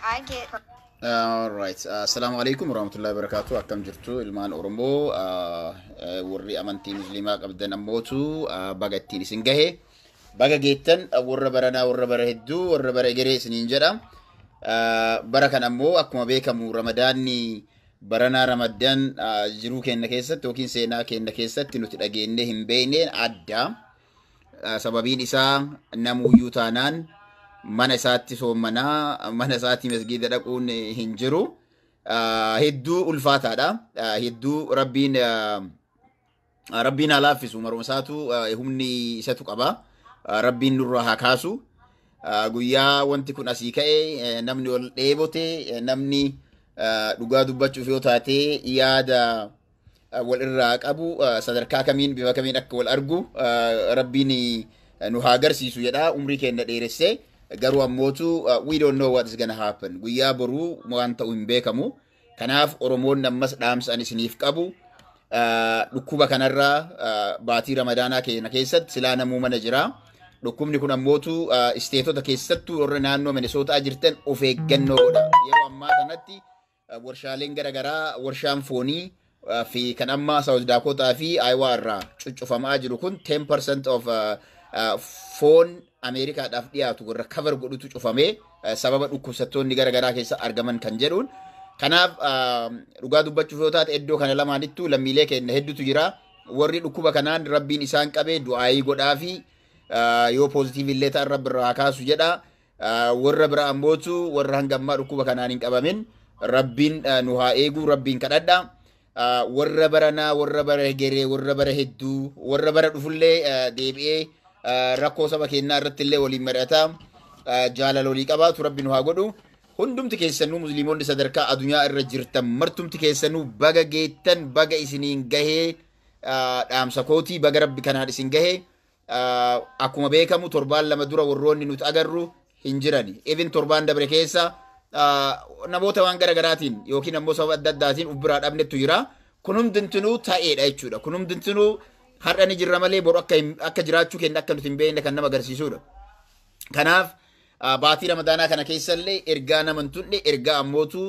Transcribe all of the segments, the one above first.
I get Alright. Assalamu alaikum warahmatullahi wabarakatuh. Akkam jirtu ilmaan Oromoo ah, eh, warri amantii musliimaa qabdan ammootu ah, baga ittiin isin gahe. Baga geettan ah, warra baranaa warra bara hedduu warra bara egeree isiniin jedha. Ah, Bara kan ammoo akkuma beekamu ramadaanni Baranaa Ramaddan jiruu keenna keessatti yookiin seenaa keenna keessatti nuti dhageennee hin beekneen adda. Sababiin isaa namuuyyuu taanaan mana isaatti soommanaa, mana isaatti masgiida dhaquun hin jiru. Hedduu ulfaataadha. Hedduu rabbiin Rabbiin haa laaffisu maruma isaatu humni isatu qaba. Rabbiin nurra haa kaasu. Guyyaa wanti kun asii ka'e namni ol dheebote namni dhugaa dubbachuuf yoo taate yaada wal irraa qabu sadarkaa kamiin bifa kamiin akka wal argu rabbiin nu haa agarsiisu jedha umrii keenya dheeressee garuu ammootu we don't know what is gonna happen guyyaa boruu waan ta'u hin beekamu. Kanaaf Oromoonni ammas dhaamsa ani isiniif qabu dhukkuba kanarraa baatii ramadaanaa keenya keessatti silaa namuu mana jira. Dhukkubni kun ammootu isteetota keessattuu warra naannoo Minisootaa jirtan of eeggannoo godha. Yeroo ammaa kanatti warshaaleen garaagaraa warshaan foonii fi kan amma South Dakota fi Iowa irraa cuccufamaa jiru kun 10% of foon Ameerikaadhaaf dhiyaatu warra cover godhutu cufamee sababa dhukkubsattoonni gara garaa keessa argaman kan jedhuun. Kanaaf dhugaa dubbachuuf yoo taate iddoo kana lamaanittuu lammiilee keenya hedduutu jira. Warri dhukkuba kanaan rabbiin isaan qabee du'aayii godhaa fi yoo poozitiivii illee ta'an rabbi irraa haa kaasu jedha. Warra bira ammootu warra hanga ammaa dhukkuba kanaan hin qabamin rabbiin nu haa eeguu rabbiin kadhadha. Warra baranaa warra bara hegeree warra bara hedduu warra bara dhufullee deebi'ee rakkoo saba keenyaa irratti illee waliin mari'ata jaalala walii qabaatu rabbi nu haa godhu. Hundumti keessanuu musliimonni sadarkaa adunyaa irra jirtan martumti keessanuu baga geettan baga isiniin gahee dhaamsa kootii baga rabbi kanaan isin gahee akkuma beekamu torbaan lama dura warroonni nuti agarru hin jirani. Even torbaan dabre keessa namoota waan gara garaatiin yookiin ammoo sababa adda addaatiin uf biraa dhabnetu jira. Kun hundintinuu ta'eedha jechuudha. Kun hundintinuu har'a ni jirra malee boru akka jiraachuu keenya akka nuti hin beekne kan nama agarsiisudha. Kanaaf Baatii Ramadaanaa kana keessa illee ergaa nama hin tulle ergaa ammootu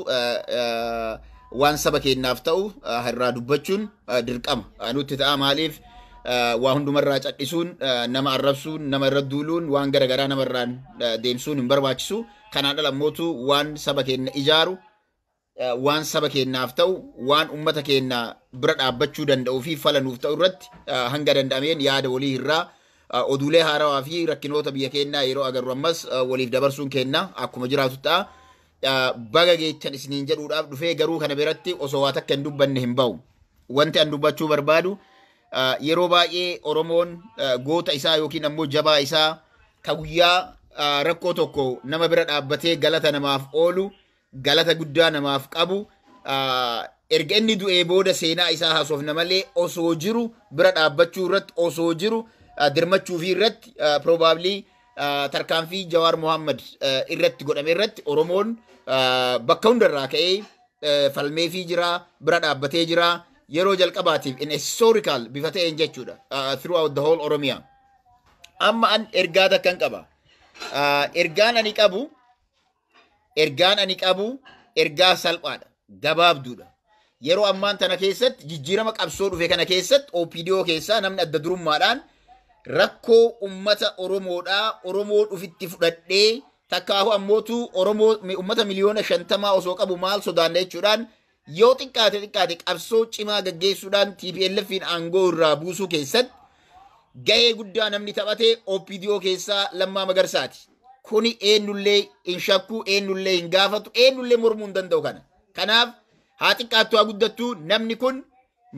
waan saba keenyaaf ta'u irraa dubbachuun dirqama nutti ta'a maaliif waa hundumarraa cadhisuun nama arrabsuun nama irra duuluun waan gara garaa namarraan deemsuun hin barbaachisu kanaan ala ammootu waan saba keenya ijaaru waan saba keenyaaf ta'u, waan ummata keenya bira dhaabbachuu danda'uu fi fala nuuf ta'u irratti hanga danda'ameen yaada walii hirraa, oduulee haarawaa fi rakkinoota biyya keenyaa yeroo agarru ammas waliif dabarsuun keenya akkuma jiraatu ta'a. Baga geechan isiniin jedhuudhaaf dhufee garuu kana biratti osoo waa takka hin dubbanne hin ba'u. Wanti an dubbachuu barbaadu yeroo baay'ee Oromoon goota isaa yookiin ammoo jabaa isaa ka guyyaa rakkoo tokko nama bira dhaabbatee galata namaaf oolu galata guddaa namaaf qabu. Erga inni du'ee booda seenaa isaa haasofna malee osoo jiru bira dhaabbachuu irratti osoo jiru dirmachuu fi irratti probably tarkaanfii Jawaar Mohaammed irratti godhame irratti Oromoon bakka hundarraa ka'ee falmeefii jira, bira dhaabbatee jira. Yeroo jalqabaatiif in historical bifa ta'een jechuudha throughout the whole Oromia. Amma an ergaa takkan qaba. Ergaan ani qabu Ergaan ani qabu ergaa salphaadha, gabaabduudha. Yeroo ammaan tana keessatti jijjiirama qabsoo dhufe kana keessatti OPDO keessaa namni adda durummaadhaan rakkoo ummata Oromoodhaa Oromoo dhufitti fudhadhee takkaahu ammootu Oromoo ummata miliyoona shantamaa osoo qabu maal sodaanna jechuudhaan Yoo xiqqaate xiqqaate qabsoo cimaa gaggeessuudhaan TPLFiin aangoo irraa buusuu keessatti gahee guddaa namni taphate OPDO keessaa Lammaa Magarsaati. Kuni eenyullee hin shakku, eenyullee hin gaafatu, eenyullee mormuu hin danda'u kana. Kanaaf haa xiqqaattu haa guddattu namni kun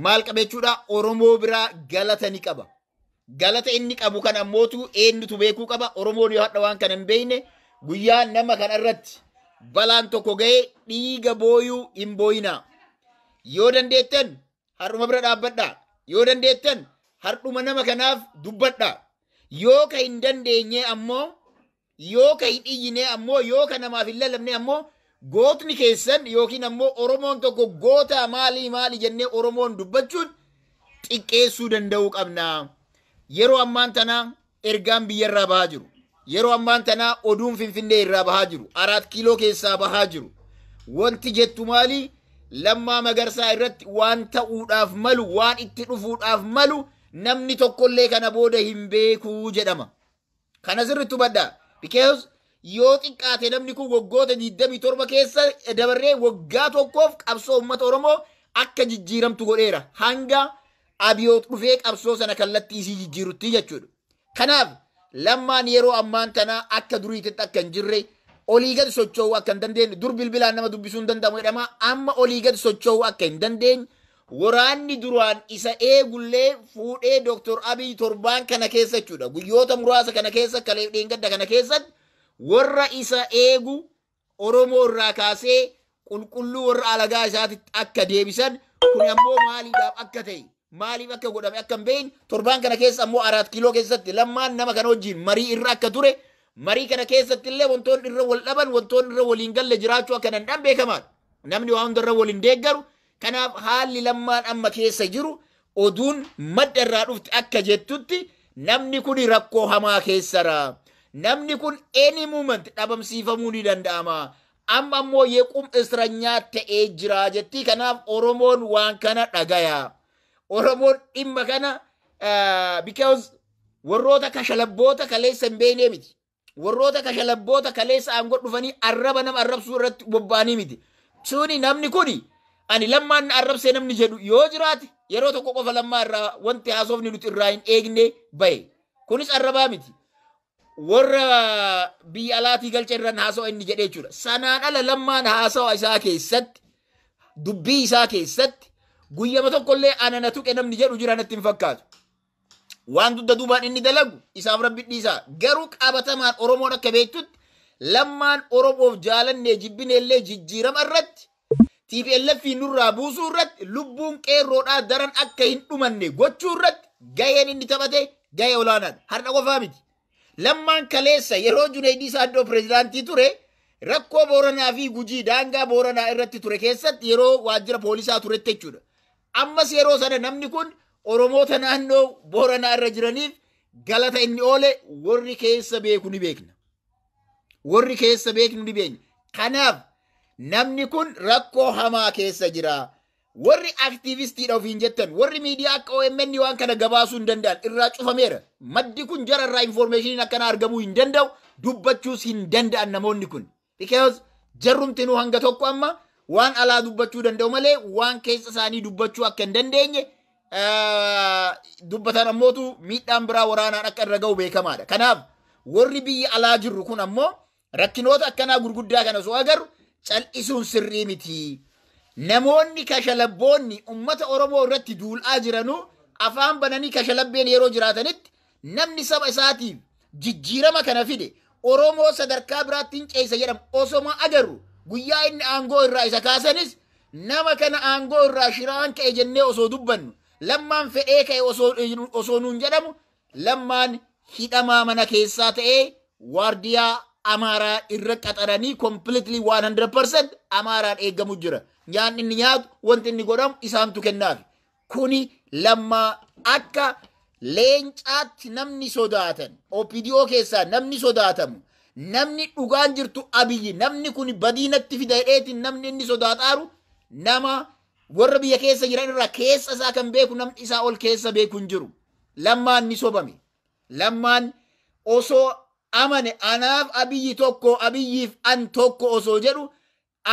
maal qaba jechuudha Oromoo biraa galata ni qaba. Galata inni qabu kan ammootu eenyutu beekuu qaba? Oromoon yoo hadha waan kana hin beekne guyyaa nama kana irratti balaan tokko ga'ee dhiiga booyuu hin booyinaa. Yoo dandeettan har'uma bira dhaabbadhaa. Yoo dandeettan har'uma nama kanaaf dubbadhaa. Yoo ka hin dandeenye ammoo Yoo ka hin iyyinee ammoo yoo ka namaaf hin lallabnee ammoo gootni keessan yookiin ammoo Oromoon tokko gootaa maalii maali jennee Oromoon dubbachuun xiqqeessuu danda'uu qabna. Yeroo ammaan tanaa ergaan biyyarraa bahaa jiru. Yeroo ammaan tanaa oduun Finfinnee irraa bahaa jiru. Araat kiiloo keessaa bahaa jiru. Wanti jettu maali? Lammaa Magarsaa irratti waan ta'uudhaaf malu, waan itti dhufuudhaaf malu namni tokkollee kana booda hin beeku jedhama. Kana sirriitti hubadhaa. Because yoo xiqqaate namni kun waggoota 27 keessa dabarree waggaa tokkoof qabsoo uummata Oromoo akka jijjiiramtu godheera. Hanga abiyoot dhufee qabsoo sana kallattii isii jijjiirutti jechuudha. Kanaaf lammaan yeroo ammaan tana akka duriititti akka hin jirre olii gad socho'uu akka hin dandeenye dur bilbilaan nama dubbisuu hin danda'amu jedhama amma olii gad socho'uu akka hin dandeenye Woraanni duraan isa eegullee fuudhee Dr. Abiy torbaan kana keessa jechuudha guyyoota muraasa kana keessa kaleef dheengadda kana keessatti worra isa eegu Oromoo irraa kaasee qulqulluu worra alagaa isaatitti akka deebisan kun ammoo maaliidhaaf akka ta'e maaliif akka godhame akka hin beekne torbaan kana keessa ammoo araat kiiloo keessatti lammaan nama kana wajjin marii irra akka ture marii kana keessatti illee wantoonni irra wal dhaban wantoonni irra waliin galle jiraachuu akka danda'an beekamaadha. Namni waa hunda irra waliin deeggaru Kanaaf haalli Lammaan amma keessa jiru oduun madda irraa dhufte akka jettutti namni kuni rakkoo hamaa keessara. Namni kun any moment dhabamsiifamuu ni danda'ama. Amma ammoo yequm isranyaa ta'ee jira jettii kanaaf Oromoon waan kana dhagaya. Oromoon dhimma kana because warroota kashalabboota kaleessa hin beeknee miti. Warroota kashalabboota kaleessa aangoo dhufanii arraba nama arrabsuu irratti bobba'anii miti. Suni namni kuni ani lammaan na arrabsee namni jedhu yoo jiraate yeroo tokko qofa lammaa irraa wanti haasofni nuti irraa hin eegne bahe. Kunis arrabaa miti. Warra biyya alaatii galcha irraan haasawa inni jedhee jechuudha. Sanaan ala lammaan haasawa isaa keessatti dubbii isaa keessatti guyyama tokkollee ana na tuqe namni jedhu jira natti hin fakkaatu. waan dugda duubaan inni dalagu isaaf rabbi dhiisaa garuu qabatamaan oromoon akka beektutti lammaan oromoof jaalannee jibbineellee jijjiirama irratti tplf nurraa buusuu irratti lubbuun qeerroodhaa daran akka hin dhumanne gochuu irratti gaheen inni taphate gahee olaanaadha har'a qofaa miti Lammaan kaleessa yeroo Juneeydii Saaddoo pireezidaantii ture rakkoo Booranaa fi Gujii daangaa Booranaa irratti ture keessatti yeroo waajjira poolisaa turetti jechuudha. Ammas yeroo sana namni kun Oromoota naannoo Booranaa irra jiraniif galata inni oole warri keessa beeku ni beekna. Warri keessa beeknu ni beekna. Kanaaf namni kun rakkoo hamaa keessa jira. Warri aktiivistiidha ofiin jettan, warri miidiyaa akka OMN waan kana gabaasuu hin danda'an irraa cufameera. Maddi kun jara irraa infoormeeshiniin akkana argamuu hin danda'u, dubbachuus hin danda'an namoonni kun. Because jarrumtinuu hanga tokko amma waan alaa dubbachuu danda'u malee waan keessa isaanii dubbachuu akka hin dandeenye eh, dubbatan ammootu miidhaan biraa waraanaan akka irra ga'u beekamaadha. Kanaaf warri biyya alaa jirru kun ammoo Rakkinoota akkanaa gurguddaa kana osoo agarru cal'isuun sirrii miti. Namoonni kashalabboonni ummata Oromoo irratti duul'aa jiranuu afaan bananii kashalabbeen yeroo jiraatanitti namni saba isaatiif jijjiirama kana fide Oromoo sadarkaa biraatti hin ceessa jedhamu osoma agarru guyyaa inni aangoo irraa isa kaasanis nama kana aangoo irraa shiraan ka'e jennee osoo dubbannu lammaan fedhee ka'e osoo nuun jedhamu Lammaan hidhamaa mana keessaa ta'ee waardiyaa Amaaraa irra qaxaranii completely 100% Amaaraan eegamu jira. Nyaanni inni nyaatu wanti inni godhamu isaantu kennaafi. Kuni lammaa akka leencaatti namni sodaatan OPDO keessaa namni sodaatamu namni dhugaan jirtu abiyyi namni kun badiinatti fida jedheetiin namni inni sodaataaru nama warra biyya keessa jiran irraa keessa isaa kan beeku namni isaa ol keessa beeku hin jiru. Lammaan ni sobame. Lammaan osoo amane anaaf abiyyi tokko abiyyiif an tokko osoo jedhu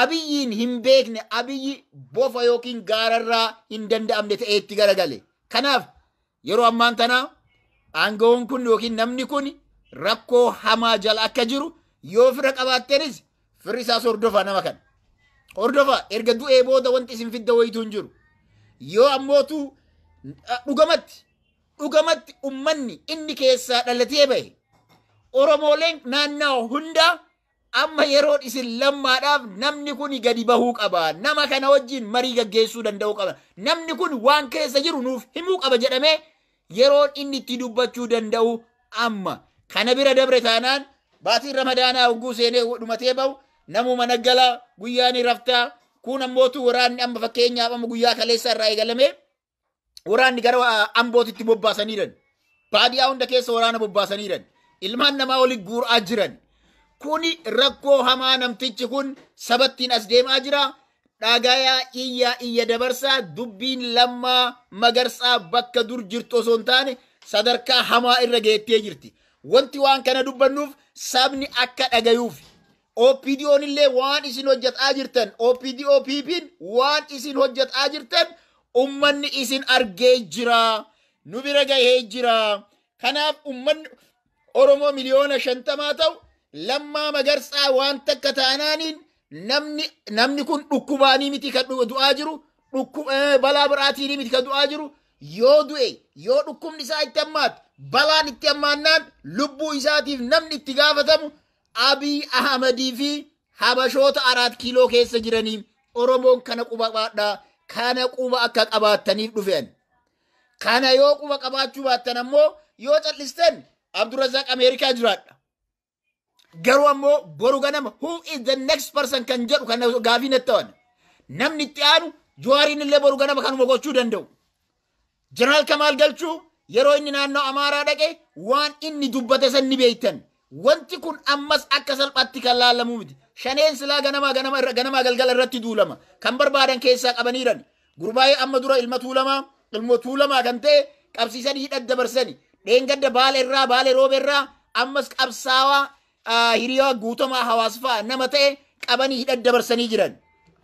abiyyiin hin beekne abiyyi bofa yookiin gaararraa hin danda'amne ta'ee itti garagale. Kanaaf yeroo ammaan tana aangawoon kun yookiin namni kun rakkoo hamaa jala akka jiru yoo fira qabaattenis Firri isaas hordofaa nama kana. Hordofaa erga du'ee booda wanti isin fidda wayituu hin jiru. Yoo ammootu dhugamatti dhugamatti ummanni inni keessaa dhalatee bahe Oromooleen naannawa hundaa amma yeroon isin lammaadhaaf namni kun gadi bahuu qaba. Nama kana wajjin marii gaggeessuu danda'uu qaba. Namni kun waan keessa jiru nuuf himuu qaba jedhamee Yeroon inni itti dubbachuu danda'u amma. Kana bira dabre taanaan baatiin ramadaanaa hogguu seenee dhumatee ba'u namuu mana gala, guyyaa ni rafta. Kun ammootu waraanni amma fakkeenyaaf amma guyyaa kaleessaa irraa eegalamee waraanni gara ambootitti bobbaasaniiran. Baadiyaa hunda keessa waraana bobbaasaniiran. Ilmaan namaa oli guuraa jiran. Kuni rakkoo hamaa namtichi kun sabattiin as deemaa jira. Dhagayaa iyyaa iyya dabarsaa dubbiin Lammaa Magarsaa bakka dur jirtu osoo hin taane sadarkaa hamaa irra geettee jirti. Wanti waan kana dubbannuuf sabni akka dhagayuufi. OPDOn illee waan isin hojjetaa jirtan OPDO PPn waan isin hojjetaa jirtan ummanni isin argee jira. Nu bira gahee jira. Kanaaf ummanni Oromoo miliyoona shantamaa ta'u Lammaa Magarsaa waan takka taanaaniin namni namni kun dhukkubaanii miti kan du- du'aa jiru dhukku- eh, balaa biraatiin miti kan du'aa jiru yoo du'e yoo dhukkubni isaa itti hammaate balaan itti hammaannaan lubbuu isaatiif namni itti gaafatamu abiy ahmadii fi habashoota araat kiiloo keessa jiranii oromoon kana quba qabaadhaa kana quba akka qabaattaniif dhufeen kana yoo quba qabaachuu baattan ammoo yoo callistan abdurazaaq ameerikaa jiraadha Garuu ammoo boru ganama who is the next person kan jedhu kan gaafii natti ta'an. Namni itti aanu Jawaariin illee boru ganama kanuma gochuu danda'u. Jeneraal Kamaal Galchuu yeroo inni naannoo Amaaraa dhaqe waan inni dubbate san ni beektan. Wanti kun ammas akka salphaatti kan laalamuu miti. Shaneen silaa ganamaa ganama irra ganamaa galgala irratti duulama. Kan barbaadan keessaa qabaniiran. Gurmaa'ee amma dura ilma Tuulamaa, ilmoo Tuulamaa kan ta'e qabsiisanii hidhatti dabarsani. Dheengadda Baale irraa, Baale Roobe irraa ammas qabsaawaa ah, hiriyaa guutamaa hawaas fa'a nama ta'e qabanii hidhatti dabarsanii jiran.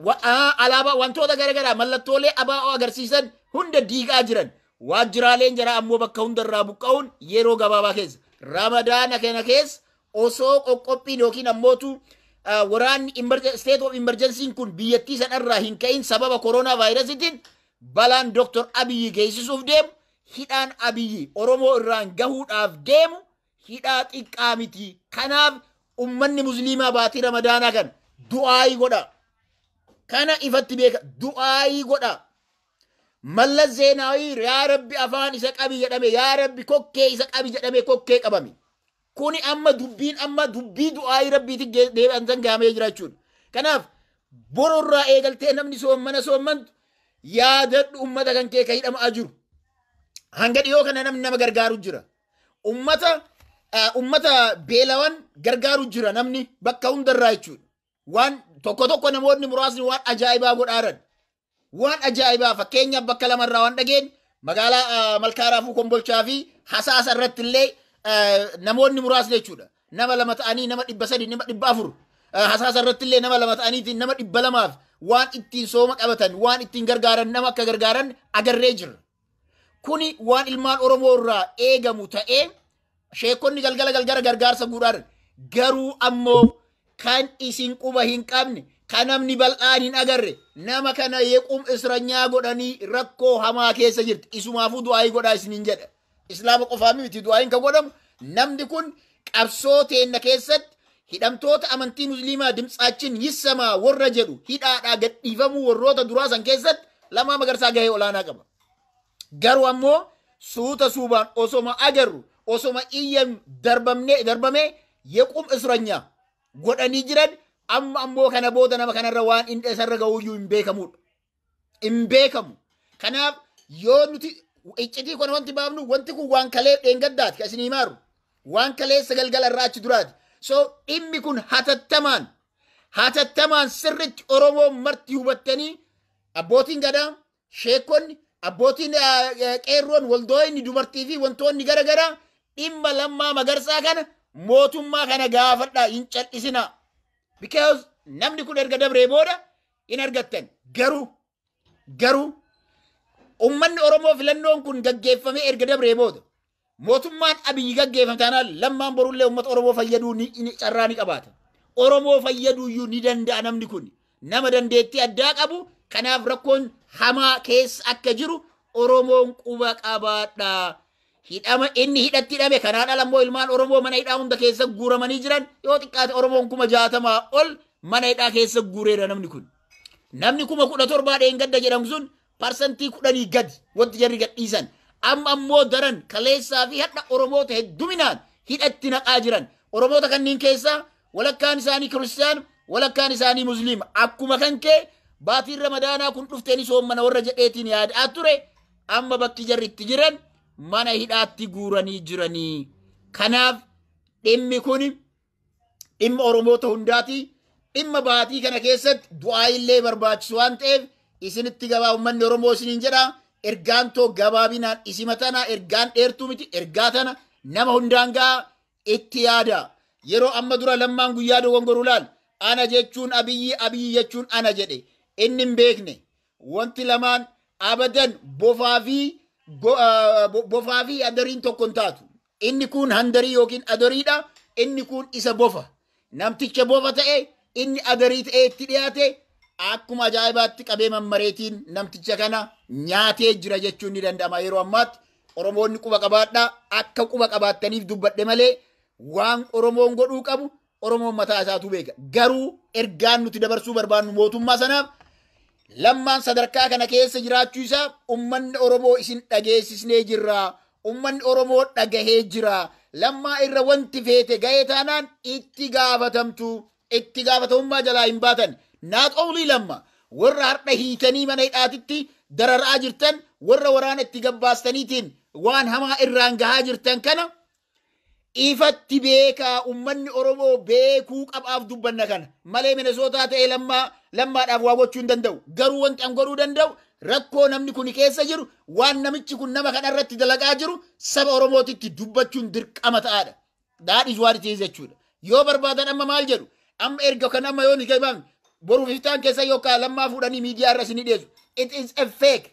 Wa- ah, Alaabaa wantoota garaagaraa mallattoolee abaa'oo agarsiisan hunda diigaa jiran. Waajjiraaleen jara ammoo bakka hundarraa buqqa'uun yeroo gabaabaa keessa. Ramadaana kana keessa osoo qoqqophiin yookiin ammootu ah, waraanni emerge- state of emergency kun biyyattii sanarraa hin ka'in sababa koronaa vaayirasitiin balaan Dr. Abiyyi geessisuuf deemu hidhaan Abiyyi Oromoo irraan gahuudhaaf deemu hidhaa xiqqaa miti. Kanaaf ummanni musliimaa baatii ramadaanaa kan du'aayii godha. Kana ifatti beeka du'aayii godha. Mallas Zeenaawii yaa rabbi afaan isa qabi jedhame yaa rabbi kokkee isa qabi jedhame kokkee qabame. Kuni amma dubbiin amma dubbii du'aayii rabbiitti ge- deebi'an san gahamee jira jechuudha. Kanaaf boru irraa eegaltee namni soommana soommantu yaadadhu ummata kan kee ka hidhama'aa jiru. Hanga dhiyoo kana namni nama gargaaru jira. Ummata ah, ummata beelawan gargaaru jira namni bakka hundarraa jechuudha. Waan tokko tokko namoonni muraasni waan ajaa'ibaa godhaaran. Waan ajaa'ibaa fakkeenyaaf bakka lama irraa waan dhageenye magaalaa ah, Malkaa Raafuu Kombolchaa fi Hasaasa irratti illee ah, namoonni muraasni jechuudha. Nama lama ta'anii nama dhibba sadii nama dhibba afur ah, Hasaasa irratti illee nama lama ta'aniitiin nama dhibba lamaaf waan ittiin sooma qabatan waan ittiin gargaaran nama akka gargaaran agarree jirra. Kuni waan ilmaan Oromoo irraa eegamu ta'ee sheekonni galgala galgala gargaarsa guudhaan garuu ammoo kan isin quba hin qabne kan namni bal'aan hin agarre nama kana yequum isranyaa godhanii rakkoo hamaa keessa jirti isumaafuu du'aayii godhaa isiniin jedha islaama qofaa miti du'aayiin kan godhamu namni kun qabsoo teenna keessatti Hidhamtoota amantii Musliimaa Dimtsaachin Yissamaa worra jedhu hidhaadhaa gadhiifamuu worroota duraa san keessatti Lammaa Magarsaa gahee olaanaa qaba. Garuu ammoo suuta suubaan osoma agarru osoma iyyan darbamne darbamee yequm isranyaa godhanii jiran amma ammoo kana booda nama kanarra waan inni isarra ga'uuyyuu hin beekamuudha. hin beekamu. Kanaaf yoo nuti iccitii kana wanti baafnu wanti kun waan kalee dheengaddaati kan isin himaaru. Waan kaleessa galgala irraa achi duraati. So dhimmi kun hatattamaan hatattamaan sirritti Oromoo marti hubattanii abbootiin gadaa, sheekonni, abbootiin qeerroon, waldooyinni, dubartii fi wantoonni gara garaa dhimma lammaa magarsaa kana mootummaa kana gaafadhaa hin cal'isinaa. Because namni kun erga dabree booda hin argattan. Garuu garuu ummanni Oromoo filannoon kun gaggeeffamee erga dabree booda mootummaan Abiyyi gaggeeffame taanaan lammaan borullee uummata Oromoo fayyaduu ni, ni, carraa ni qabaata. Oromoo fayyaduuyyuu ni danda'a namni kun. Nama dandeettii addaa qabu kanaaf rakkoon hamaa keessa akka jiru Oromoon quba qabaadha. Hidhama inni hidhatti hidhame kanaan ala immoo ilmaan Oromoo mana hidhaa hunda keessa guuramanii jiran yoo xiqqaate Oromoon kuma jaatamaa ol mana hidhaa keessa guureera namni kun. Namni kuma kudha torbaa dheengadda jedhamu sun parsantii kudhanii gadi wanti jarri gadhiisan. Amma ammoo daran kaleessaa fi hadha Oromoota hedduminaan hidhatti naqaa jiran. Oromoota kanneen keessaa walakkaan isaanii kiristiyaan walakkaan isaanii musliima. Akkuma kan kee baatiin ramadaanaa kun dhufteeni soommana warra jedheetiin yaadaa ture. amma bakki jarri itti jiran mana hidhaatti guuranii jiranii. Kanaaf dhimmi kun dhimma Oromoota hundaati. Dhimma baatii kana keessatti du'aa illee barbaachisu waan ta'eef isinitti gabaa uummanni Oromoo isiniin jedha. Ergaan too gabaabinaan isima tana ergaan dheertuu miti ergaa tana nama hundaan ga'a itti yaada. Yeroo amma dura lammaan guyyaa dogongoruu laal ana jechuun abiyyi abiyyi jechuun ana jedhe inni hin beekne. Wanti lamaan abadan bofaa fi go- ah, bo- bofaa fi adariin tokko hin taatu. Inni kun handarii yookiin adariidha, inni kun isa bofa. Namticha bofa ta'e inni adarii ta'ee itti dhiyaate akkuma ajaa'ibaatti qabee mammareetiin namticha kana nyaatee jira jechuun ni danda'ama yeroo ammaatti. Oromoonni quba qabaadhaa akka quba qabaattaniif dubbadhe malee waan Oromoon godhuu qabu Oromoon mataa isaatu beeka. Garuu ergaan nuti dabarsuu barbaannu mootummaa sanaaf lammaan sadarkaa kana keessa jiraachuu isaa ummanni Oromoo isin dhageessisnee jirra. Ummanni Oromoo dhagahee jira. Lammaa irra wanti feete ga'ee taanaan itti gaafatamtu. Itti gaafatamummaa jalaa hin baatan. Not only lamma warra har'a hiitanii mana hidhaatitti dararaa jirtan warra waraana itti gabbaastaniitiin waan hamaa irraan gahaa jirtan kana Ifatti beekaa ummanni Oromoo beekuu qabaaf dubbanna kana. Malee Minesootaa ta'ee lammaa lammaadhaaf waa gochuu hin danda'u. Garuu wanti an godhuu danda'u rakkoo namni kuni keessa jiru waan namichi kun nama kana irratti dalagaa jiru saba Oromootitti dubbachuun dirqama ta'aadha. That is what it is jechuudha. Yoo barbaadan amma maal jedhu amma erga kan amma yoo ni gabaabne boru biftaan keessa yookaan lammaa fuudhanii miidiyaa irra isin hidheessu. It is a fake.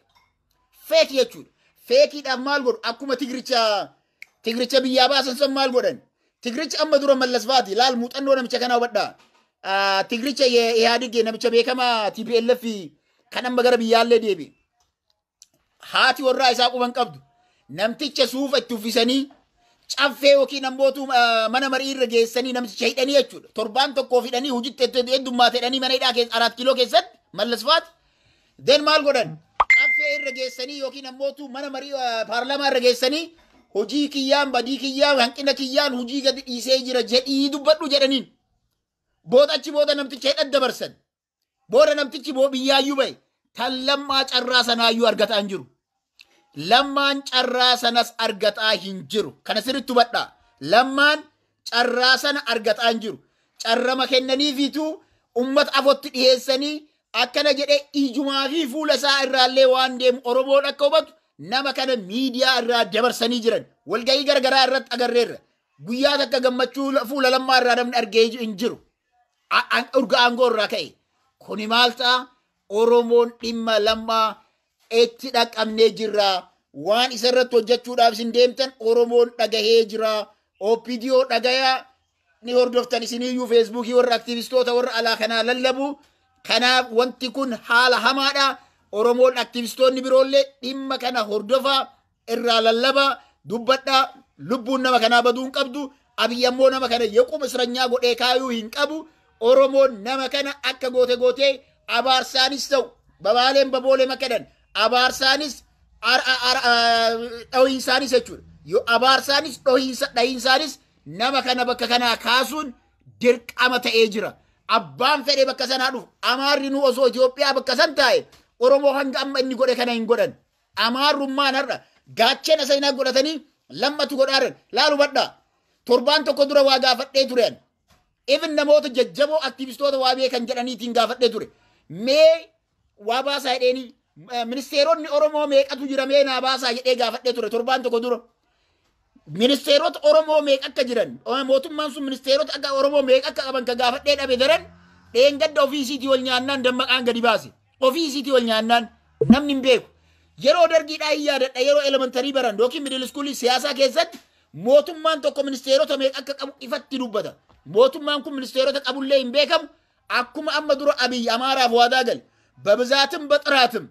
Feeki jechuudha. Feekiidhaaf maal godhu? Akkuma tigricha tigricha biyyaa baasan san maal godhan? Tigrichi amma dura mallas faati laal muuxannoo namicha kanaa hubadha. Ah, Tigricha ye- Ihaadig namicha beekamaa TPLF kan amma gara biyyaallee deebi. Haati warraa isaa quban qabdu. Namticha suufa itti uffisanii caffee yookiin ammootu ah, mana marii irra geessanii namticha hidhanii jechuudha. Torbaan tokkoof hidhanii hojitti heddummaate hidhanii mana hidhaa keessa araat kiiloo keessatti mallas faati. Then maal godhan? Caffee irra geessanii yookiin ammootu mana marii eh, paarlaamaa irra geessanii hojii kiyyaan badii kiyyaan hanqina kiyyaan hojii gadi dhiisee jira jedhii dubbadhu jedhaniin. Booda achi booda namticha hidhan dabarsan. Booda namtichi boo biyyaayyuu ba'e. Tan lammaa carraa sanaayyuu argataa hin jiru. Lammaan carraa sanas argataa hin jiru. Kana sirriitti hubadhaa. Lammaan carraa sana argataa hin jiru. Carrama kennaniifiitu ummata afootti dhiheessanii akkana jedhee ijumaa fi fuula isaa irraallee waan deemu Oromoon akka hubatu nama kana miidiyaa irraa dabarsanii jiran. Walgahii garagaraa irratti agarreerra. Guyyaa takka gammachuu fuula lammaa irraa namni argee hin jiru. Urga aangoo irraa ka'e. Kuni maal ta'a? Oromoon dhimma Lammaa etti dhaqqabnee jirra. Waan isa irratti hojjechuudhaaf isin deemtan Oromoon dhagahee jira. OPDO dhagayaa ni hordoftan isiniyyuu feesbuukii warra aktiivistoota warra alaa kanaa lallabu. Kanaaf wanti kun haala hamaadha. Oromoon aktiivistoonni biroollee dhimma kana hordofaa irraa lallabaa dubbadhaa lubbuun nama kanaa baduu hin qabdu abiy ammoo nama kana yequm isranyaa godhee kaayuu hin qabu oromoon nama kana akka goote gootee abaarsaanis ta'u babaaleen baboolee makadan abaarsaanis dhohiinsaanis jechuudha yoo abaarsaanis dhohiinsaanis nama kana bakka kanaa kaasuun dirqama ta'ee jira abbaan fedhe bakka sanaa dhufu amaarri nu osoo Itoophiyaa bakka san taa'e oromoo hanga amma inni godhe kana hin godhan Amaarrummaan har'a gaachena seenaa godhatanii lammatu godhaa jiran. Laal hubadhaa. Torbaan tokko dura waa gaafadhee ture ani. Even namoota jajjaboo aktiivistoota waa beekan jedhaniitiin gaafadhee ture. Mee waa baasaa jedheenii eh, ministeeronni Oromoo meeqatu jira mee naa baasaa jedhee gaafadhee ture torbaan tokko dura. Ministeerota Oromoo meeqa akka jiran mootummaan sun ministeerota akka Oromoo meeqa akka qaban ka gaafadhee dhabe daran dheengadda ofii isiitii ol nyaannaan dammaqaan gadi baase. Ofii isiitii ol nyaannaan namni hin beeku. Yeroo dargiidhaa hin yaadadha yeroo elementarii baran yookiin middle iskuulii siyaasaa keessatti mootummaan tokko ministeerota meeqa akka qabu ifatti dubbata. Mootummaan kun ministeerota qabullee hin beekamu akkuma amma dura Abiy Amaaraaf waadaa gale. Babizaatim baxiraatim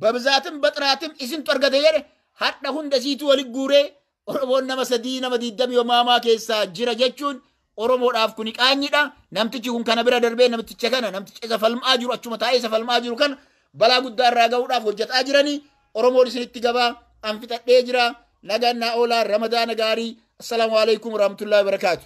babzaatim baxiraatim isintu argate jedhe hadha hunda siitu wali guuree Oromoon nama sadii nama diiddamii omaamaa keessaa jira jechuun Oromoodhaaf kuni qaanyidha. Namtichi kun kana bira darbee namticha kana namticha isa falmaa jiru achuma taa'ee isa falmaa jiru kana balaa guddaa irraa ga'uudhaaf hojjetaa jiranii Oromoon isinitti gabaa an fixadhee jira nagaan naa oolaa ramadaana gaarii assalaamu alaikum warahmatullahi wabarakaatu.